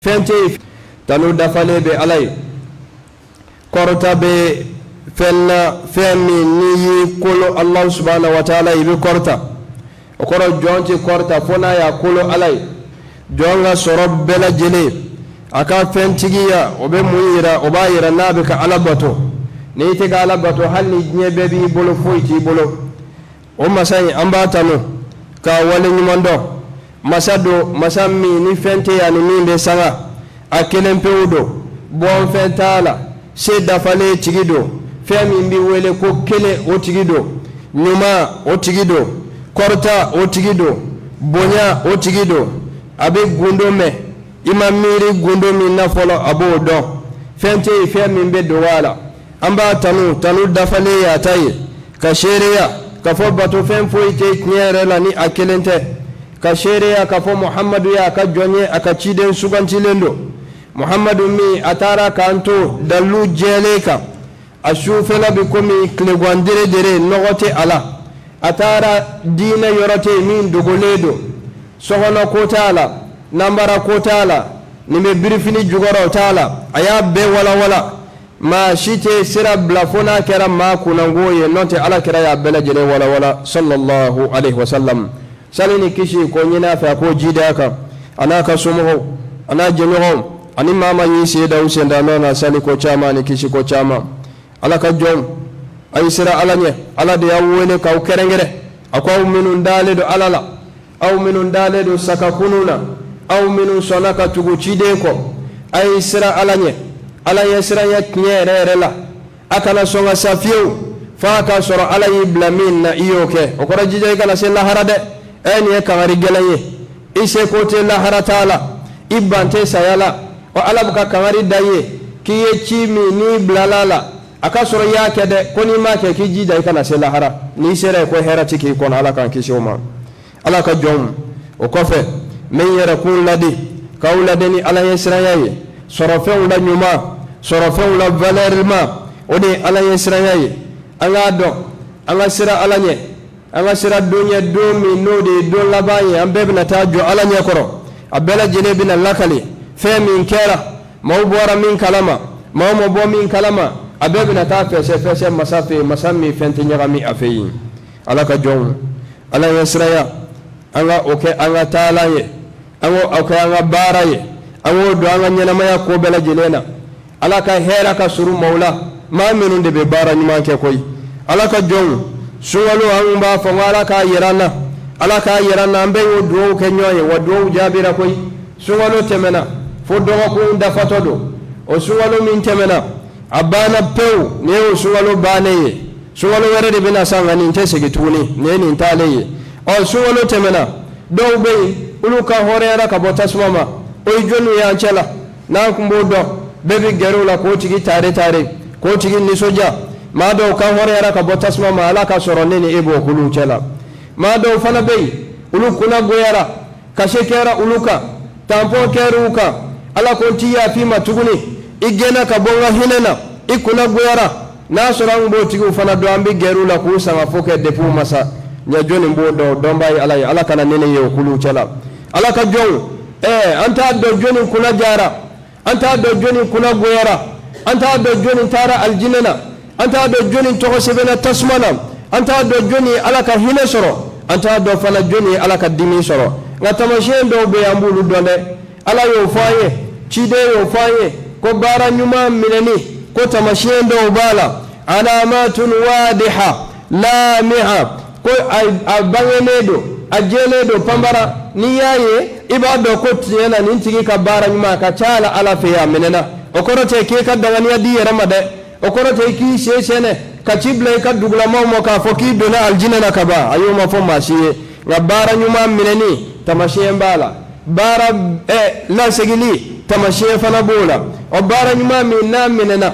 fɛn tɛ yen tanu dafalen bɛ ala ye kɔrɔta bɛ fɛn na fɛn min n'i y'i kolo ala subahana wa taala i bɛ kɔrɔta o kɔrɔ jɔn tɛ kɔrɔta fo n'a y'a kolo ala ye jɔn ka sɔrɔ bɛɛ lajɛlen a ka fɛntigiya o bɛ mun yira o b'a yira n'a bɛ ka ala bato n'i tɛ ka ala bato hali ni diɲɛ bɛɛ b'i bolo foyi t'i bolo. o masa in an b'a tanu k'a wale ɲuman dɔn masa don masa min ni fɛn tɛ yen a ni min bɛ sanga a kelen pewu don bɔnfɛn t'a la se dafalen tigi don fɛn min bɛ wele ko kelen o tigi don ɲuman o tigi don kɔrɔta o tigi don bonya o tigi don a bɛ gundo mɛn i ma miiri gundo min na fɔlɔ a b'o dɔn fɛn tɛ yen fɛn min bɛ dogo a la an b'a tanu tanu dafalen y'a ta ye ka seereya ka fɔ bato fɛn foyi tɛ tiɲɛ yɛrɛ la ni a kelen tɛ ka seereya ka fɔ muhamadu y'a ka jɔn ye a ka ciden sugantilen don muhamadu min a taara k'an to dalilu jɛlen kan a sufɛla bɛ komi tilegan deredere nɔgɔ tɛ a la a taara diinɛ yɔrɔ tɛ yen min dogolen don sokɔnɔ ko t'a la nanbara ko t'a la nin bɛ birifini jukɔrɔ o t'a la a y'a bɛɛ walawala maa si tɛ sira bila fo n'a kɛra maa kunnango ye n'o tɛ ala kira y'a bɛɛ lajɛlen walawala sallallahu alaihi wasallam sali ni kisi k'o ɲini a fɛ a k'o jiidi a kan a n'a ka somɔgɔw a n'a jɛɲɔgɔnw ani maa maa y'i sen da u sendanɔ na sali ko caman ni kisi ko caman ala ka jɔnw a ye siran ala ɲɛ ala de y'aw wele k'aw kɛrɛnkɛrɛn a ko aw minnu dalen don ala la aw minnu dalen don sakakunu na aw minnu sɔnna ka tugu ciden kɔ a ye siran ala ɲɛ ala ɲɛ siranya tiɲɛ yɛrɛ yɛrɛ la a kana sɔn ka sa fiyewu f'a k'a sɔrɔ ala y'i bila min na i y'o kɛ o kɔrɔ jija i kana se lahara dɛ ɛ nin ye kangari gɛlɛn ye i seko tɛ lahara taa la i ban tɛ saya la ɔ ala bɛ ka kangari da i ye k'i ye ci min n'i bilala a la a ka sɔrɔ i y'a kɛ dɛ ko n'i m'a kɛ k'i jija i kana se lahara n'i sera yen ko hɛrɛ tɛ k'i kɔnɔ ala k'an kisi o ma ala ka jɔnw o kɔfɛ n bɛ n yɛrɛkun laadi k'aw laadi ni ala ɲɛ siranya ye sɔrɔfɛnw la ɲuman sɔrɔfɛnw la valɛrima o de ye ala ɲɛ siranya ye an k'a dɔn an ka siran ala ɲɛ an ka siran don ɲɛ don min n'o de ye don laban ye an bɛɛ bɛna taa jɔ ala ɲɛ kɔrɔ a bɛɛ lajɛlen bɛna lakali fɛn min kɛra maaw bɔra min kalama maaw ma bɔ min kalama a bɛɛ bɛna taa fɛsɛfɛsɛ masa fɛ yen masa min fɛn tɛ ɲagami a fɛ yen ala ka jɔnw ala ɲɛsiraya an ka o kɛ an ka taalan ye an ka o kɛ an ka baara ye an k'o don an ka ɲɛnamaya ko bɛɛ lajɛlen na ala ka hɛrɛ ka surun maaw la maa minnu de bɛ baara ɲuman kɛ koyi ala ka jɔnw sunkalo an kun b'a fɔ ko ala k'a yira an na ala k'a yira an na an bɛɛ y'o dugawu kɛ ɲɔgɔn ye wa dugawu jaabira koyi sunkalo tɛmɛna fo dɔgɔkun dafatɔ don o sunkalo min tɛmɛna a banna pewu nin y'o sunkalo bannen ye sunkalo wɛrɛ de bɛ na sa nka nin tɛ segin tuguni nin ye nin taalen ye ɔ sunkalo tɛmɛna dɔw bɛ yen olu kan hɔrɔnyara ka bɔ tasuma ma o ye jɔniw y'an cɛ la n'an kun b'o dɔn bɛɛ bɛ gɛrɛ o la k'o tigi taare taare k'o tigi nisɔndiya maa dɔw kan hɔrɔnyara ka bɔ tasuma ma ala k'a sɔrɔ ne ni e b'o kulu cɛ la maa dɔw fana bɛ yen olu kunna goyara kashe kɛra olu kan tanpɔn kɛra u kan ala ko n tɛ yaf'i ma tuguni i gɛnna ka bɔ n ka hinɛ na i kunna goyara n'a sɔrɔ an b'o tigiw fana dɔn an bɛ gɛrɛ u la k'u sangafo kɛ depi u ma sa nka jɔni b'o dɔn o dɔnbaa ye ala ye ala kana ne n'e ye o kulu cɛ la ala ka jɔnw ɛɛ an t'a dɔn jɔni kunna diyara an t'a dɔn jɔni kunna goyara an t'a dɔn jɔni taara alijinɛ na an t'a dɔn jɔni tɔgɔ sɛbɛnna tasuma na an t'a dɔn jɔni ye ala ka hinɛ sɔrɔ an t'a dɔn fana jɔni ye ala ka dimi sɔrɔ nka tamasiyɛn dɔw bɛ yen an b'olu dɔn dɛ ala y'o fɔ an ye ciden y'o fɔ an ye ko baara ɲuman minɛni ko tamasiyɛn dɔw b'a la alamatun wadiha laamiha ko a bangenen don a jɛlen don panbara n'i y'a ye i b'a dɔn ko tiɲɛ na nin tigi ka baara ɲuman a ka ca la ala fɛ a minɛna o kɔrɔ tɛ k'i ka danganiya d'i yɛrɛ ma dɛ o kɔrɔ tɛ k'i sen sɛɛnɛ ka ci bila i ka dugulamaaw ma k'a fɔ k'i donna alijinɛ na ka ban ayi o ma fɔ maa si ye nka baara ɲuman minɛni tamasiyɛn b'a la baara ɛ lasegili tamasiyɛn fana b'o la o baara ɲuman min n'a minɛna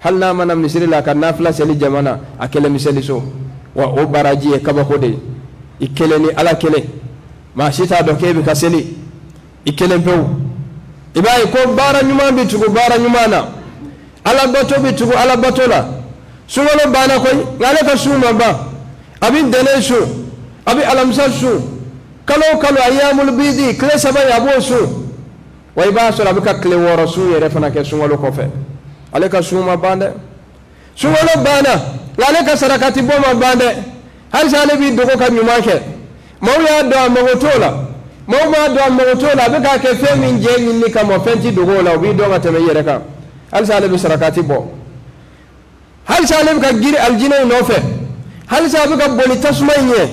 hali n'a ma na misiri la ka nafila seli jama na a kelen bɛ seli so wa o baraji ye kabako de ye i kelen ni ala kelen maa si t'a dɔn k'e bɛ ka seli i kelen pewu i b'a ye ko baara ɲuman bɛ tugu baara ɲuman na ala bato bɛ tugu ala bato la sunkalo banna koyi nka ale ka sun ma ban a bɛ ntɛnɛn sun a bɛ alamisa sun kalo o kalo ayamulu bidi tile saba in a b'o sun wa i b'a sɔrɔ a bɛ ka tile wɔɔrɔ sun yɛrɛ fana kɛ sunkalo kɔfɛ ale ka sun ma ban dɛ sunkalo banna nka ale ka sarakati bɔ ma ban dɛ halisa ale b'i dogo ka ɲuman kɛ maaw y'a dɔn a mago t'o la maaw m'a dɔn a mago t'o la a bɛ k'a kɛ fɛn min jɛ ɲinini kama fɛn tɛ dogo o la o b'i dɔn ka tɛmɛ i yɛrɛ kan halisa ale bɛ sarakati bɔ halisa ale bɛ ka giri alijinɛ in nɔfɛ halisa a bɛ ka boli tasuma in ɲɛ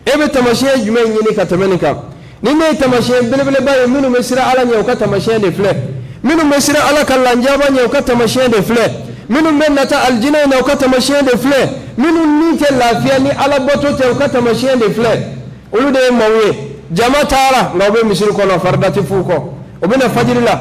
e bɛ tamasiyɛn jumɛn ɲini ka tɛmɛ nin kan nin de ye tamasiyɛn belebeleba ye minnu bɛ siran ala ɲɛ u ka tamasiyɛn de filɛ minnu bɛ siran ala ka lanjaba ɲɛ u ka tamasiyɛn de filɛ minnu bɛ nata alijinɛ in na u ka tamasiyɛn de filɛ minnu ni tɛ lafiya ni ala bato tɛ u ka tamasiyɛn de filɛ olu de ye maaw ye jama taara nka u bɛ misiri kɔnɔ farida tɛ f'u kɔ u bɛ na fajiri la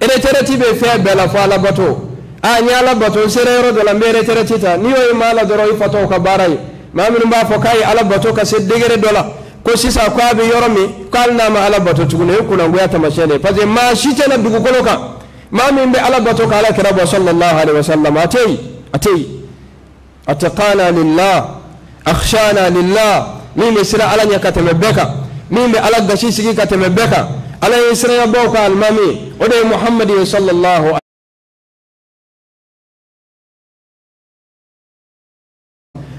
ereterɛti bɛ fɛn bɛɛ la fo ala bato a n ye ala bato n sera yɔrɔ dɔ la n bɛ ereterɛti ta n'i y'o ye maa la dɔrɔn o ye fatɔw ka baara ye maa minnu b'a fɔ k'a ye ala bato ka se degere dɔ la ko sisan ko a bɛ yɔrɔ min ko hali n'a ma ala bato tuguni o ye kunnangoya tamasiyɛn de ye parce que maa si tɛ na dugukolo kan maa min bɛ ala bato ka ala kira bɔ sallallahu alaihi wa sallam a tɛ yen a tɛ yen atqana lillah akhshana lillah min bɛ siran ala ɲɛ ka tɛmɛ bɛɛ kan min bɛ ala gasi sigi ka tɛmɛ bɛɛ kan ala ɲɛsiranɲɛbaaw ka alimami o de ye muhamadi ye sallallahu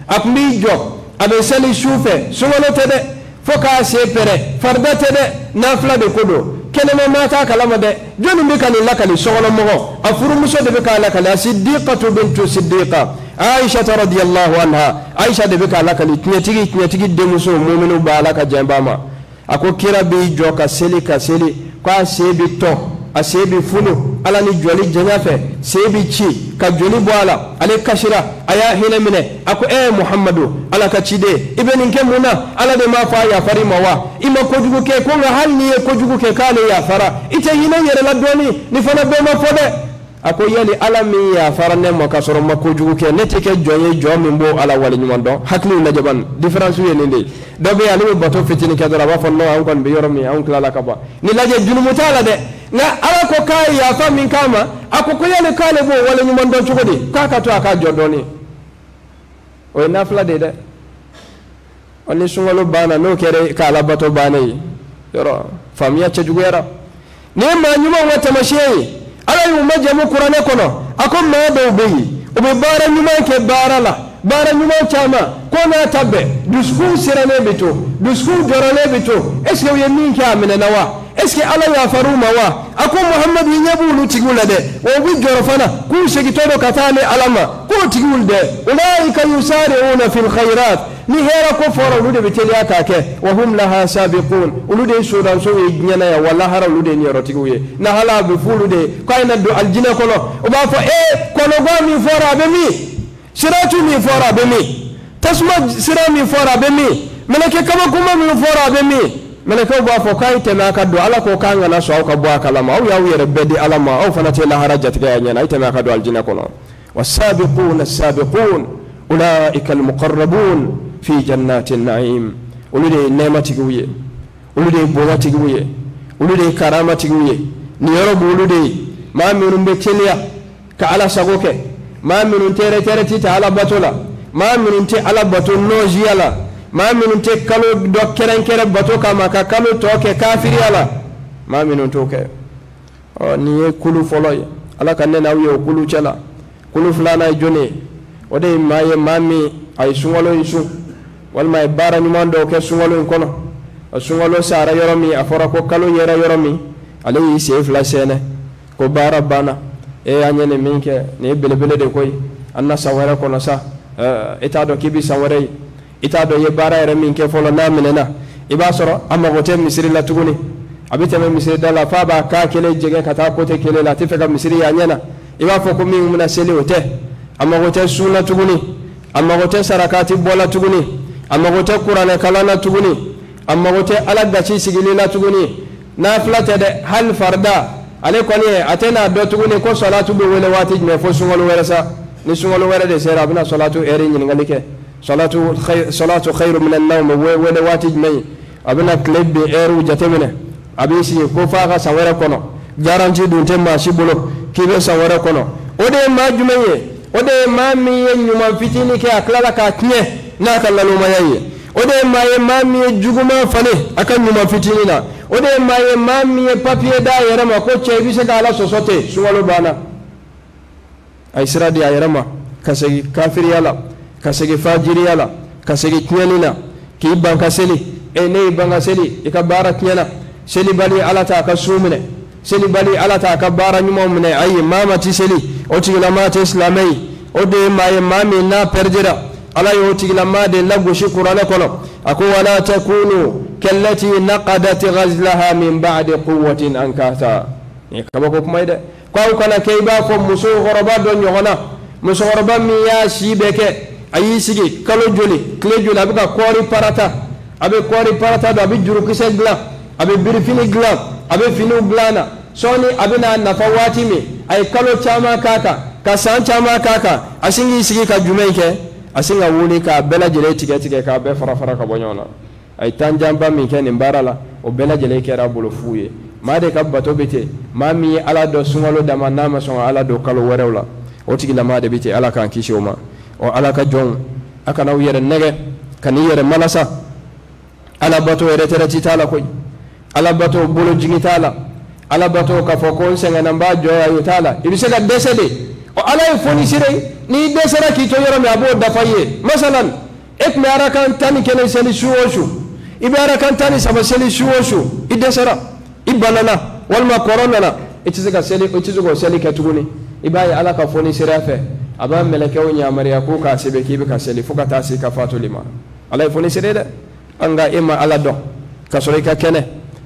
a tun b'i jɔ a bɛ seli su fɛ sunkalo tɛ dɛ fo k'a sen pɛrɛn farida tɛ dɛ nafila de ko don kɛnɛma maa t'a kalama dɛ jɔnni bɛ ka nin lakali sokɔnɔmɔgɔ a furumuso de bɛ k'a lakali a sidiqatu bintu sidiqa aishata radiyallahu anha aisha de bɛ k'a lakali tiɲɛtigi tiɲɛtigi denmuso muminuw ba ala ka jɛn ba ma a ko kira b'i jɔ ka seli ka seli ko a sen bɛ tɔn a sen bɛ funu a la ni jɔli janya fɛ sen bɛ ci ka joli bɔ a la ale kasira a y'a hinɛ minɛ a ko ee muhamadu ala ka ciden i bɛ nin kɛ mun na ala de m'a fɔ a yafara i ma wa i ma kojugu kɛ ko nka hali n'i ye kojugu kɛ k'ale yafara i tɛ hinɛ i yɛrɛ la dɔɔnin nin fana bɛɛ ma fɔ dɛ a ko yali ala min yafara ne ma ka sɔrɔ n ma kojugu kɛ ne tɛ kɛ jɔn ye jɔn min b'o ala waleɲuman dɔn hakiliw lajɛ bani diferansi ye nin de ye dɔ bɛ yen ale bɛ bato fitini kɛ dɔrɔn a b'a fɔ non anw kɔni bɛ yɔrɔ min anw tilala ka ban nin lajɛ junumu t'a la dɛ nka ala ko k'a ye yafa min k'a ma a ko ko yali k'ale b'o waleɲuman dɔn cogo di k'a k'a to a k'a jɔ dɔɔnin o ye nafila de ye dɛ ɔ ni sunkalo banna n'o kɛra e ka alabato bannen ye yɔrɔ faamuya cɛjuguyara nin ye maa ɲumanw ka tamasiyɛn ye ala y'u majamu kuranɛ kɔnɔ a ko maa dɔw bɛ yen u bɛ baara ɲuman kɛ baara la baara ɲuman caman k'o n'a ta bɛɛ dusukun sirannen bɛ to dusukun jɔrɔlen bɛ to est ce que u ye min kɛ a minɛna wa est-ce que ala yafar'u ma wa a ko muhamadu i ɲɛ b'olu tigiw la dɛ wa u bɛ jɔrɔ fana k'u segintɔ don ka taa ne ala ma k'o tigiw dɛ ulaika yusari'una fil khairat ni hɛra ko fɔra olu de bɛ teliya k'a kɛ wa hum laha sabiqun olu de ye sodansow ye diɲɛ na yan wa lahara olu de ye niyɔrɔtigiw ye lahara a bɛ f'olu de ye k'a ye na don alijinɛ kɔnɔ u b'a fɔ ee kɔnɔgwan min fɔra a bɛ min siratu min fɔra a bɛ min tasuma sira min fɔra a bɛ min mɛlɛkɛ kabakoma min fɔra a bɛ min mɛlɛkɛw b'a fɔ k'a ye tɛmɛ a ka don ala ko k'an kana sɔn aw ka bɔ a kalama aw y'aw yɛrɛ bɛɛ di ala ma aw fana tɛ lahara jatigɛ a ɲɛ na a ye tɛmɛ a ka don alijinɛ kɔnɔ wassabiquna assabiqun ulaika almuqarrabun fi jannatin naim olu de ye nɛɛma tigiw ye olu de ye bonya tigiw ye olu de ye karama tigiw ye nin yɔrɔ b'olu de ye maa minnu bɛ teliya ka ala sago kɛ maa minnu tɛ retraite ta ala bato la maa minnu tɛ ala bato nɔɔziya la maa minnu tɛ kalo dɔ kɛrɛnkɛrɛn bato kama ka kalo tɔ kɛ kafiriya la maa minnu t'o kɛ ɔ nin ye kulu fɔlɔ ye ala ka ne n'aw ye o kulu cɛ la kulu filanan ye jɔni ye o de ye maa ye maa min a ye sunkalo in sun walima a ye baara ɲuman dɔw kɛ sunkalo in kɔnɔ sunkalo sara yɔrɔ min a fɔra ko kalo yera yɔrɔ min ale y'i sen fila sɛɛnɛ ko baara banna an ye nin min kɛ nin ye belebele de koyi an na san wɛrɛ kɔnɔ sa i t'a dɔn k'i bɛ san wɛrɛ ye i t'a dɔn i ye baara yɛrɛ min kɛ fɔlɔ n'a minɛna i b'a sɔrɔ a mago tɛ misiri la tuguni a bɛ tɛmɛ misiri da la f'a b'a kan kelen jɛngɛ ka taa côté kelen la a t'a fɛ ka misiri y'a ɲɛ na i b'a fɔ ko min bɛ na seli o tɛ a mago tɛ sun na tuguni a mago tɛ sarakati bɔ la tuguni a mago tɛ kuranɛ kalan na tuguni a mago tɛ ala gasi sigili la tuguni nafila tɛ dɛ hali farida ale kɔni a tɛn'a dɔn tuguni ko salatu bɛ wele waati jumɛn fo sunkalo wɛrɛ sa ni sunkalo wɛrɛ de sera a bɛna salatu ɛri ɲininkali kɛ salatu khairu minan nawm bɛ wele waati jumɛn a bɛna tile bin ɛriw jateminɛ a b'i sigi ko f'a ka san wɛrɛ kɔnɔ garanti dun tɛ maa si bolo k'i bɛ san wɛrɛ kɔnɔ o de ye maa jumɛn ye o de ye maa min ye ɲuman fitinin kɛ a tilala k'a tiɲɛ n'a ka nalomaya ye o de ye maa ye maa min ye juguman falen a ka ɲuman fitinin na o de ye maa ye maa min ye papiye d'a yɛrɛ ma ko cɛ i bɛ se ka ala sɔsɔ ten sunkalo banna a ye sira di a yɛrɛ ma ka segin kafiriya la ka segin fajiriya la ka segin tiɲɛni na k'i ban ka seli e n'i y'i ban ka seli i ka baara tiɲɛna selibali ala t'a ka sun minɛ selibali ala t'a ka baara ɲumanw minɛ ayi maa maa tɛ seli o tigilama tɛ silamɛ ye o de ye maa ye maa min n'a pɛridira ala y'o tigilama de lagosi kuranɛ kɔnɔ a ko wala takunu kallati naqadat ghazlaha min ba'di quwwatin ankatha nin kabako kuma ye dɛ ko aw kana kɛ i b'a fɔ musokɔrɔba dɔ ɲɔgɔnna musokɔrɔba min y'a si bɛɛ kɛ a y'i sigi kalo joli tile joli a bɛ ka kɔɔri parata a bɛ kɔɔri parata don a bɛ jurukisɛ dilan a bɛ birifini dilan a bɛ finiw dilan na sɔɔni a bɛn'a nafa waati min a ye kalo caman k'a kan ka san caman k'a kan a sin k'i sigi ka jumɛn in kɛ a sin ka wuli k'a bɛɛ lajɛlen tigɛ tigɛ k'a bɛɛ fara fara ka bɔ ɲɔgɔn na a ye tan janba min kɛ nin baara la o bɛɛ lajɛlen kɛra a bolo fu ye maa de ka bato bɛ ten maa min ye ala dɔn sunkalo dama na a ma sɔn ka ala dɔn kalo wɛrɛw la o tigilamaa de bɛ ten ala k'an kisi o ma ɔ ala ka jɔnw a kana aw yɛrɛ nɛgɛn kan'i yɛrɛ malasa ala bato retraite t'a la koyi ala bato bolojigi t'a la ala bato k'a fɔ ko n sɛgɛnna n b'a jɔ yan o t'a la i bɛ se ka dɛsɛ de ɔ ala ye fonisire n'i dɛsɛra k'i to yɔrɔ min a b'o dafa i ye masalan e tun bɛ arakan tan ni kelen seli su o su i bɛ arakan tan ni saba seli su o su i dɛsɛra i banana walima kɔrɔ nana i tɛ se ka seli i tɛ se k'o seli kɛ tuguni i b'a ye ala ka fonisireya fɛ a b'a mɛlɛkɛw yamaruya k'u k'a sɛbɛn k'i bɛ ka seli fo ka taa se ka fatuli ma ala ye fonisire dɛ nka i ma ala dɔn ka sɔrɔ i ka kɛnɛ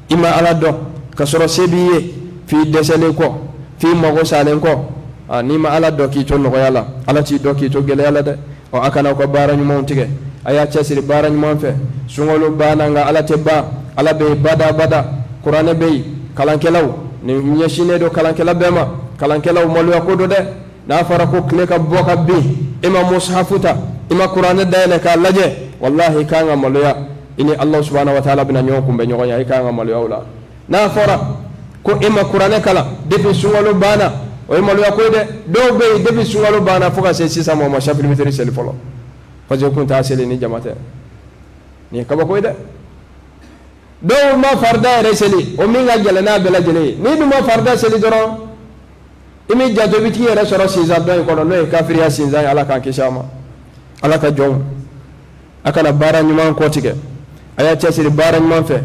i ma ala dɔn ka sɔrɔ se b'i ye f'i dɛsɛlen kɔ f'i mago salen kɔ a n'i ma ala dɔn k'i to nɔgɔya la ala t'i dɔn k'i to gɛlɛya la dɛ ɔ a kana aw ka baara ɲumanw tigɛ a y'a cɛsiri baara ɲuman fɛ sunkalo banna nka ala tɛ ban ala bɛ yen bada bada kuranɛ bɛ yen kalankɛlaw nin ɲɛsinnen don kalankɛla bɛɛ ma kalankɛlaw maloya ko don dɛ n'a fɔra ko tile ka bɔ ka bin i ma musahafu ta i ma kuranɛ dayɛlɛ k'a lajɛ walahi i kan ka maloya i ni alahu subahana wa taala bɛna ɲɔgɔn kunbɛn ɲɔgɔn ya i kan ka maloya o la n'a fɔra ko i ma kuranɛ kalan depi sunkalo banna o ye maloya ko ye dɛ dɔw bɛ yen depi sunkalo banna fo ka se sisan ma o ma safi ni witiri seli fɔlɔ parce que kun t'a seli ni jama tɛ nin ye kabako ye dɛ dɔw ma farida yɛrɛ seli o min ka gɛlɛn n'a bɛɛ lajɛlen ye n'i dun ma farida seli dɔrɔn i m'i janto i bɛ t'i yɛrɛ sɔrɔ sinzan dɔ in kɔnɔ n'o ye kafiriya sinzan ye ala k'an kisi a ma ala ka jɔnw a kana baara ɲuman kɔtigɛ a y'a cɛsiri baara ɲuman fɛ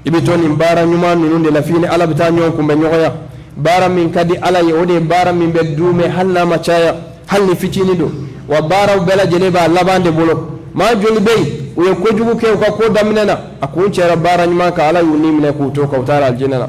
i bɛ to nin baara ɲuman ninnu de la f'i ni ala bɛ taa ɲɔgɔn kunbɛn ɲɔgɔnya baara min ka di ala ye o de ye baara min bɛ duumɛ hali n'a ma caya hali ni fitinin don wa baaraw bɛɛ lajɛlen b'a laban de bolo maa joli bɛ yen u ye kojugu kɛ u ka ko daminɛ na a kuncɛra baara ɲuman kan ala y'u ni minɛ k'u to a kan u taara alijinɛ na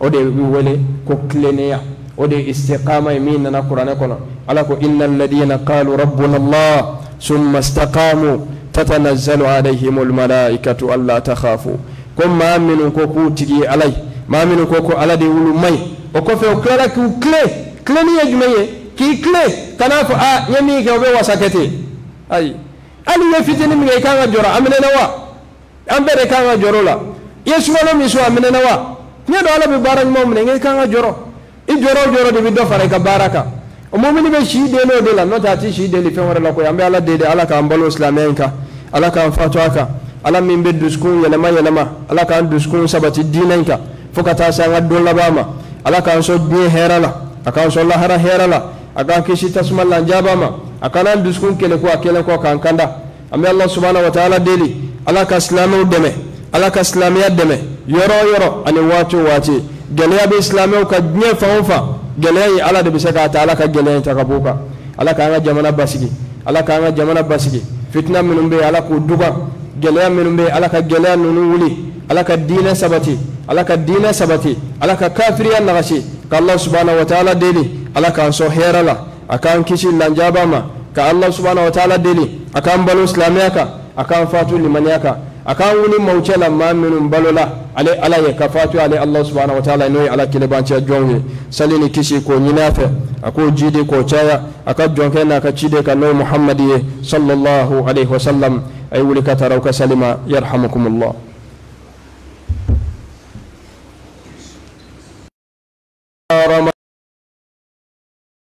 o de bɛ wele ko tilennenya o de ye istiqama ye min nana kuranɛ kɔnɔ ala ko inna alladina qalu rabbuna allah summa istaqamu tatanazzalu alayhim almalaikatu alla takhafu ko maa minnu ko k'u tigi ye ala ye maa minnu ko ko ala de olu maa ye o kɔfɛ o tilara k'u tilen tilenni ye jumɛn ye k'i tilen kan'a fɔ aa n ye min kɛ o bɛ wasa kɛ ten ayi hali i ye fitinin min kɛ i kan ka jɔrɔ a minɛna wa an bɛɛ de kan ka jɔrɔ la i ye sunkalo min sun a minɛna wa n y'a dɔn ala bɛ baara ɲumanw minɛ nka i kan ka jɔrɔ i jɔrɔ o jɔrɔ de bɛ dɔ fara i ka baara kan o mumini bɛ si den o de la n'o tɛ a tɛ si deli fɛn wɛrɛ la koyi an bɛ ala deli ala k'an balo silamɛya in kan ala k'an fatu a kan ala min bɛ dusukun yɛlɛma yɛlɛma ala k'an dusukun sabati diinɛ in kan fo ka taa se an ka don laban ma ala k'an sɔn diɲɛ hɛrɛ la a k'an sɔn lahara hɛrɛ la a k'an kisi tasuma lanjaba ma a kana an dusukun kɛlɛku a kɛlen kɔ k'an kanda an bɛ ala subahana wa taala deli ala ka silamɛw dɛmɛ ala ka silamɛya dɛmɛ yɔrɔ o yɔrɔ ani waati o waati gɛlɛya bɛ silamɛw kan diɲɛ fan o fan gɛlɛya in ala de bɛ se k'a ta ala ka gɛlɛya in ta ka bɔ u kan ala k'an ka jamana basigi ala k'an ka jamana basigi fitina minnu bɛ yen ala k'o duba gɛlɛya minnu bɛ yen ala ka gɛlɛya ninnu wuli ala ka diinɛ sabati ala ka diinɛ sabati ala ka kafiriya nagasi ka ala subahana wa taala deli ala k'an sɔn hɛrɛ la a k'an kisi lanjaba ma ka ala subahana wa taala deli a k'an balo silamɛya kan a k'an fatu limaniya kan a k'an wuli maaw cɛ la maa minnu balola ale ala ye ka fatu ale ala subahana wa taala n'o ye ala kelebancɛ jɔnw ye sali ni kisi k'o ɲini a fɛ a k'o jiidi k'o caya a ka jɔnkɛ n'a ka ciden kan n'o muhamadi ye sallallahu alaihi wasallam a ye wuli ka taa aw ka sali ma yarhamukumullah